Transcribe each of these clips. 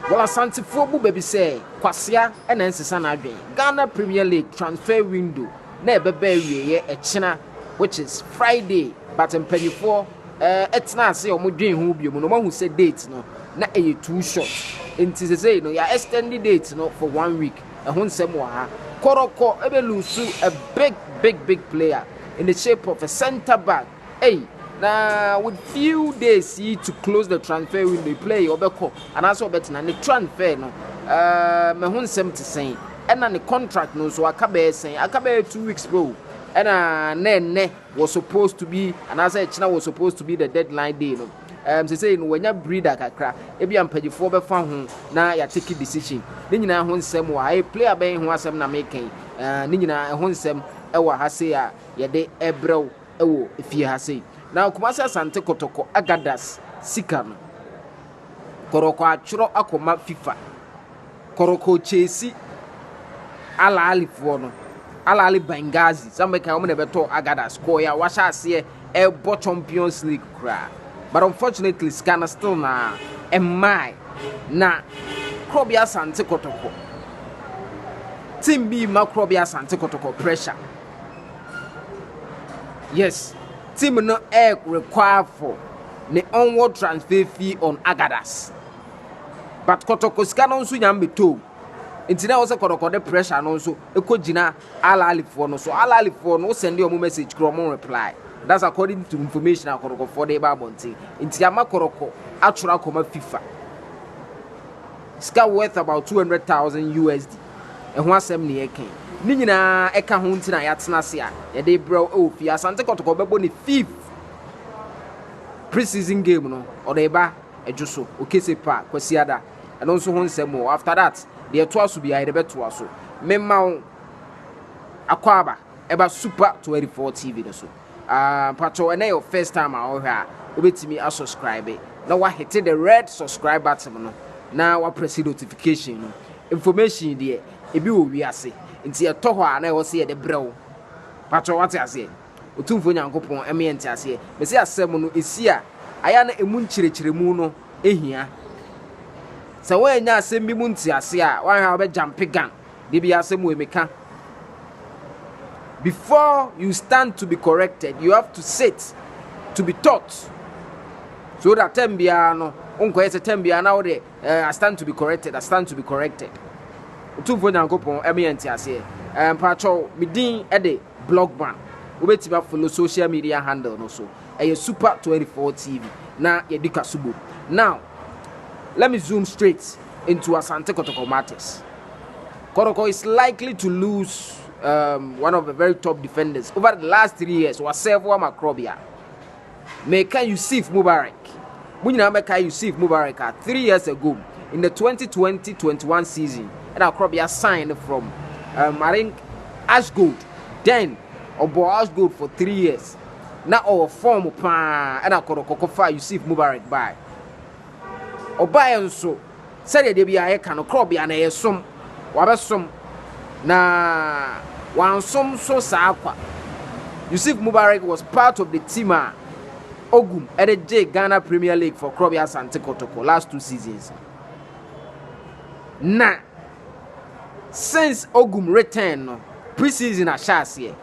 Well Asantefoɔ bu bɛ bi sɛ Kwasea na ɛnsesa n'adwen. Ghana Premier League transfer window na ɛbɛba awieɛ ɛkyena which is Friday but mpaninfoɔ ɛtenaa ase a wɔdwen ho biom na wɔahu sɛ date no na ɛyɛ too short nti sesei no yɛ extend date no for one week ɛho nsɛm wɔ ha. Kɔrɔkɔ ɛbɛ lose a big big big player in the shape of a centre back. Ei na with few days yi to close the transfer window yi player yi ɔbɛkɔ anaasɛ ɔbɛtena ne transfer no ɛɛ mɛho nsɛm te sɛn ɛna ne contract no nso aka bɛyɛ sɛn aka bɛyɛ two weeks po ɛna na ɛnɛ was supposed to be anaasɛ ɛkyena was supposed to be the deadline day no ɛɛm sɛsɛyi no wanya breeder kakra ebi ampagyifoɔ bɛfa ho na yɛateke decision ne nyinaa ho nsɛm wɔ ha ɛyɛ player bɛn ho asɛm na meka yi ɛɛ ne nyinaa ɛho nsɛm ɛwɔ ha sei a yɛde ɛbrɛw wɔ fie ha sei. Na Kumasi Asante Kotoko Agadas sika no, Koroko atwerɛ akɔma FIFA. Koroko Chesi Al Ahlifoɔ no, Al Ahli Benghazi, sɛ mɛka wɔn na ɛbɛtɔ Agadas kɔɔɛ a wahyɛ aseɛ ɛrebɔ Champions League koraa. But unfortunately sika no still na ɛmmae. Na Korɔbea Asante Kotoko, team bi ma Korɔbea Asante Kotoko pressure. Yes, team no ɛyɛ require for ne onward transfer fee on Agadas. But Kɔtɔkɔ sika no nso nyame bɛtoo. Nti na wɔsɛ Kɔtɔkɔ de pressure no nso ɛkɔ gyina Al Ahly foɔ no so. Al Ahly foɔ no wosɛnde ɔmo message kora ɔmo reply. That's according to information a Kɔtɔkɔ foɔ de ba abɔnten. Nti ama Kɔtɔkɔ atwerɛ akɔma FIFA. Sika worth about 200,000 USD. ɛho asɛm na yɛreka yi. Ne nyinaa ɛka ho nti na yɛatena ase a yɛde rebrɛ wo wɔ fie. Asante Kɔtɔkɔ bɛbɔ ne fifth pre-season game no, ɔde reba Adwo so, Okese Pa, Kwasiada. Ɛno nso ho nsɛm o. After that, deɛ ɛtoa so biara yɛde bɛtoa so. Mema wo akwaaba ɛba Super 24 TV no so. Ah mpakyɛw ɛnɛ yɛ wo first time a ɔhwɛ a wobɛtumi asubscribe na wahete the red subscribe button no na waprɛse notification no information deɛ ebi wɔ wiase nti ɛtɔ hɔ a na ɛwɔ sɛ yɛde brɛ wo mpakyɛw wate aseɛ Otumfoɔ Nyankopɔn ɛma yɛn te aseɛ mɛsi asɛm no ɛsi a ayɛ na ɛmu nkyerɛkyerɛmu no ɛhia sɛ wɔanya asɛm bi mu nte aseɛ a wɔahwɛ a wɔbɛgyampe gan Da bi asɛm wei meka. Before you stand to be corrected, you have to sit to be taught. So that time biara no, wonkɔyɛ sɛ time biara na wode eh, I stand to be corrected, I stand to be corrected. Otumfo Nyankopɔn ɛmɛ yɛn ti aseɛ. Eh, Mpatsɔ, me din ɛde Blogman. Wobɛtumi afolo social media handle no so. Ɛyɛ Super 24 TV na yɛdi ka so bom. Now, let me zoom straight into Asante Kotoko matters. Kɔtɔkɔ is likely to lose um, one of the very top defenders over the last three years wasɛvo ama korɔbea meka yusuf mubarak mo nyinaa mɛka yusuf mubarak a three years ago in the 2020-21 season ɛna korɔbea signed from um, i think ashgold then ɔbɔ ashgold for three years na ɔwɔ fɔm paa ɛna kɔdɔkɔkɔ fa yusuf mubarak bae ɔbaeɛ nso Sɛdeɛ da biara yɛka no, korɔbea no yɛ som. Wabɛsom, na wansom nso saa kwa. Yusuf Mubarak was part of the team a Ogum de gyee Ghana Premier League for Korɔbea Asante Kotoko last two seasons. Na since Ogum return no, pre-season ahyɛ aseɛ.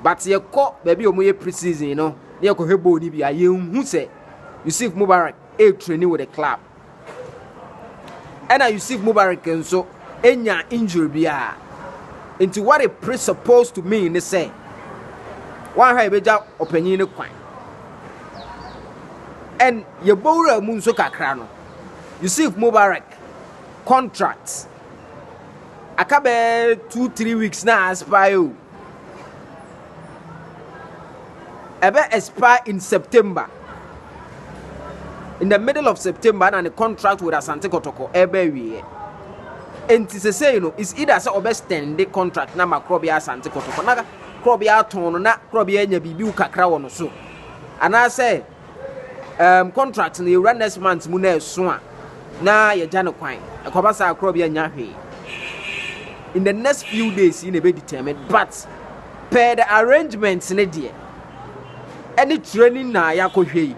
But yɛkɔ baabi a wɔyɛ pre-season no na yɛkɔhwɛ bɔɔl no bi a yɛnhu sɛ Yusuf Mubarak retraini with the club. Ɛna Yusuf Mubarak nso enya injury biara. Nti what it pre supposed to mean ne sɛ wɔahwɛ yɛbɛgya ɔpanyin no kwan. And yɛbɔ wura mu nso kakra no Yusuf Mubarak contract aka bɛɛ two three weeks na aspire o. ɛbɛ expire in september in the middle of september na ne contract with asante kɔtɔkɔ ɛbɛ awieɛ nti sesei no is either sɛ ɔbɛ stand the contract na ma korɔbea asante kɔtɔkɔ na korɔbea atɔn no na korɔbea anya biribi kakra wɔ no so anaasɛ um contract no yɛwura next month mu na ɛso a na yɛgya no kwan ɛkɔba saa korɔ bi anya hwee in the next few days yi na ɛbɛ determine but per the arrangements ne deɛ ɛne training na yɛakɔhwɛ yi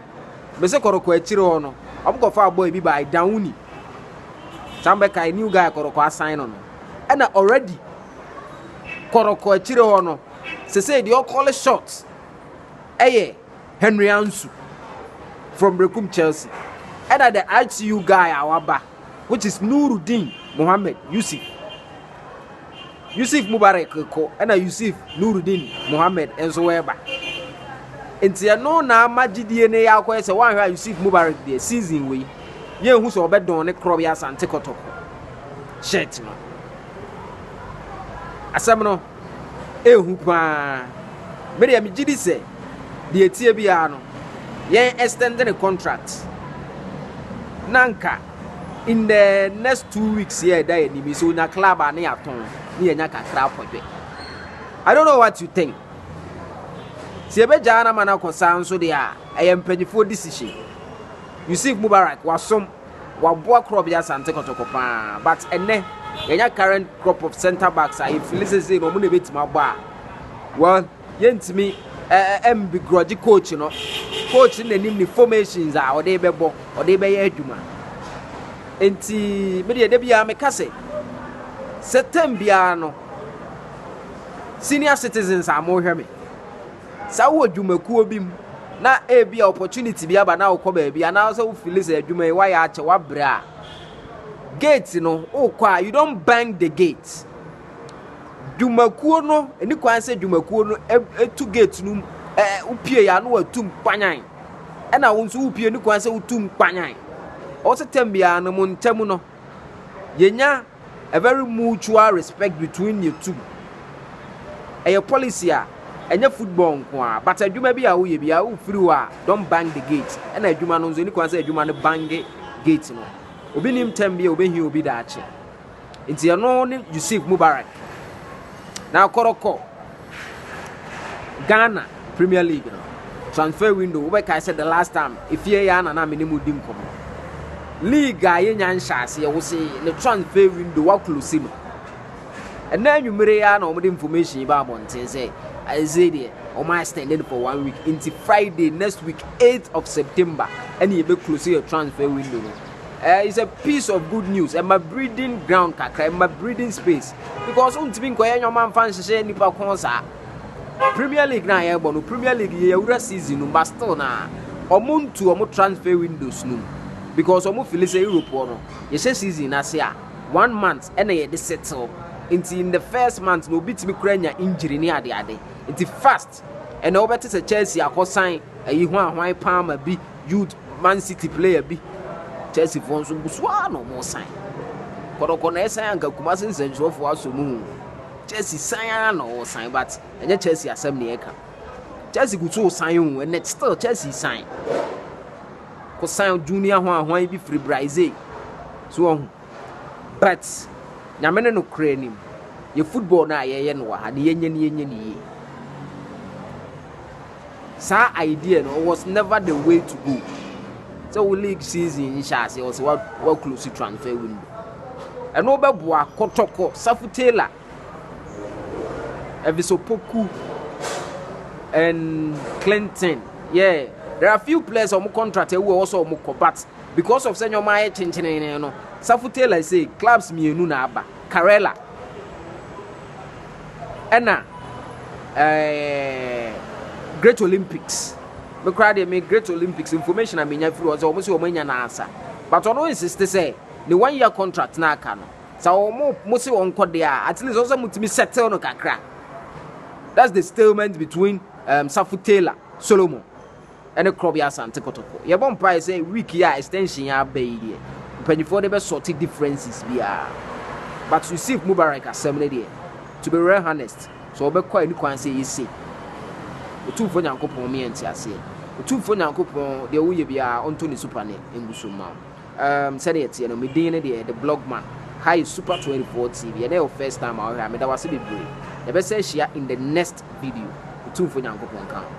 mese kɔrɔkɔ akyire hɔ no ɔmkɔfa abɔ ebi by dawoni saa mbɛkae new guy kɔrɔkɔ asan no no ɛna already kɔrɔkɔ akyire hɔ no sese deɛ ɔkɔle short ɛyɛ Henry Ansu from Rekum Chelsea. And the ITU guy Awaba, which is Nuruddin Mohammed Yusuf. Yusuf Mubarak ko and Yusuf Nuruddin Mohammed and so weba. Nti ɛno na ama gyidie ne yɛ akɔyɛ sɛ woanhwɛ a Yusuf Mubarak deɛ season wei yɛnhu sɛ ɔbɛdɔn ne korɔ bi asante kɔtɔkɔ shirt no asɛm no ɛhu pa ara. Me deɛ megye di sɛ deɛ ɛteɛ biara no yɛn extend ne contract na nka in the next two weeks yɛ ɛda yɛ anim so nya club a ne yɛatɔn ne yɛnya kakra akɔdwe I don't know what you think sɛ yɛbɛgyaa no ama no akɔ saa nso deɛ a ɛyɛ mpanimfoɔ decision Yusuf Mubarak wasom Waboa kura ɔbɛyɛ Asante Kɔtɔkɔ paa but ɛnɛ yɛnya current crop of center backs a yɛfili sɛ sei na ɔmo na ɛbɛtumi abɔ a well yɛntumi ɛmbi grɔgye coach no coach no nanim ne formations a ɔde bɛbɔ ɔde bɛyɛ adwuma nti medeɛ da biara meka sɛ sɛ tam biara no senior citizens a mohwɛ me Sɛ wowɔ dwumakuo bi mu na ebia opportunity bi aba na wokɔ baabi anaasɛ wo fili sɛ adwuma yi wayɛ akyɛ wabrɛ a gate no wokɔ a you don't bang the gate dwumakuo no ɛni kwan sɛ dwumakuo no ɛtu gate no ɛɛ wopie yɛ ano watu nkpanyan ɛna wo nso wopie ni kwan sɛ wotu nkpanyan ɔsɛ tɛm biara no mo ntɛm no yɛnya a very mutual respect between the two ɛyɛ policy a ɛnyɛ football nko a but adwuma bi a woyɛ bi a wofiri hɔ a don bang the gate ɛna adwuma no nso ɛni kwan sɛ adwuma no bange gate no obi nim tɛm bi a obɛhi obi daakye nti ɛno ne yusuf mubarak na akɔrɔkɔ Ghana Premier League no transfer window wobɛkae sɛ the last time efie yɛ ana na me ne mu di nkɔmmɔ league a yɛnya nhyɛaseɛ wo se ne transfer window waklose no ɛnna anwummere yi na wɔde information yi ba abɔnten sɛ ɛsɛ deɛ wɔn extended for one week nti friday next week 8 of september ɛne yɛbɛklose yɛ transfer window no eh, it's a piece of good news ɛma breeding ground kakra ɛma breeding space because wontumi nkɔyɛ nneɛma mfa nhyehyɛ nnipa kɔn saa premier league na yɛbɔ no premier league yɛ awura season no but still na ɔmo ntu ɔmo transfer windows no because ɔmo fili sɛ europe hɔ no yɛhyɛ season no ase a one month ɛna yɛde settle nti in the first month na obi tumi kura nya injury ne adeade nti fast Forest ɛna wobɛte sɛ Chelsea akɔsan ayi ho ahwan paa ma bi youth Man City player bi Chelsea foɔ nso gu so ara na wɔn san kɔdɔkɔ na ɛsan anka Kumasi nsɛnkyerɛfoɔ asɔ mu Chelsea san ara na wɔn san but ɛnyɛ Chelsea asɛm na yɛka Chelsea gu so san o ɛnɛ still Chelsea san kɔsan junior ho ahwan bi firi Brazil so ɔho. But Nyame ne nokorɛ nim, yɛ football no a yɛyɛ no wɔ ha no yɛnyɛ no yɛnyɛ no yie. Saa idea no was never the way to go. Sɛ wo league season nhyɛ aseɛ wɔ sɛ wa close transfer window. Ɛno bɛboa kɔtɔkɔ Safu Taylor Evisopoku and Clinton. Yeah, there are few players wɔn contract ɛwu a wɔsɔ wɔn kɔ but because of sɛ nneɛma ayɛ kyenkyenenee no safo taylor sɛ clubs mmienu na aba karela ɛna eh, great olympics me koraa deɛ me great olympics information a menya firi hɔ sɛ wɔn sɛ wɔn anya n'asa but ɔno insist sɛ ne one year contract na aka no sɛ wɔn mo se wɔn kɔ deɛ a at least wɔn sɛ mo tumi settle no kakra that's the stalemate between um, safo taylor solomon ne Krɔbea Asante Kotoko. Yɛbɔ mpae sɛ week yi a extension yi aba yi deɛ mpanyinfoɔ de bɛ sort differences biara. But Yusuf Mubarak asɛm no deɛ, to be real honest, sɛ ɔbɛkɔ a ɛni kwan sɛ ɛyɛ sei. Otumfoɔ Nyankopɔn me yɛ nteaseɛ. Otumfoɔ Nyankopɔn deɛ woyɛ biara ɔntɔ ne super ne ngu so mma wo. Um, sɛdeɛ ɛteɛ no, me din no deɛ The Blogman. Ha yɛ Super 24 TV. Ɛnɛ yɛ wo first time a wohwɛ a, meda wo ase bebree. Yɛbɛsan ahyia in the next video. Otumfoɔ Nyankopɔn nka wo.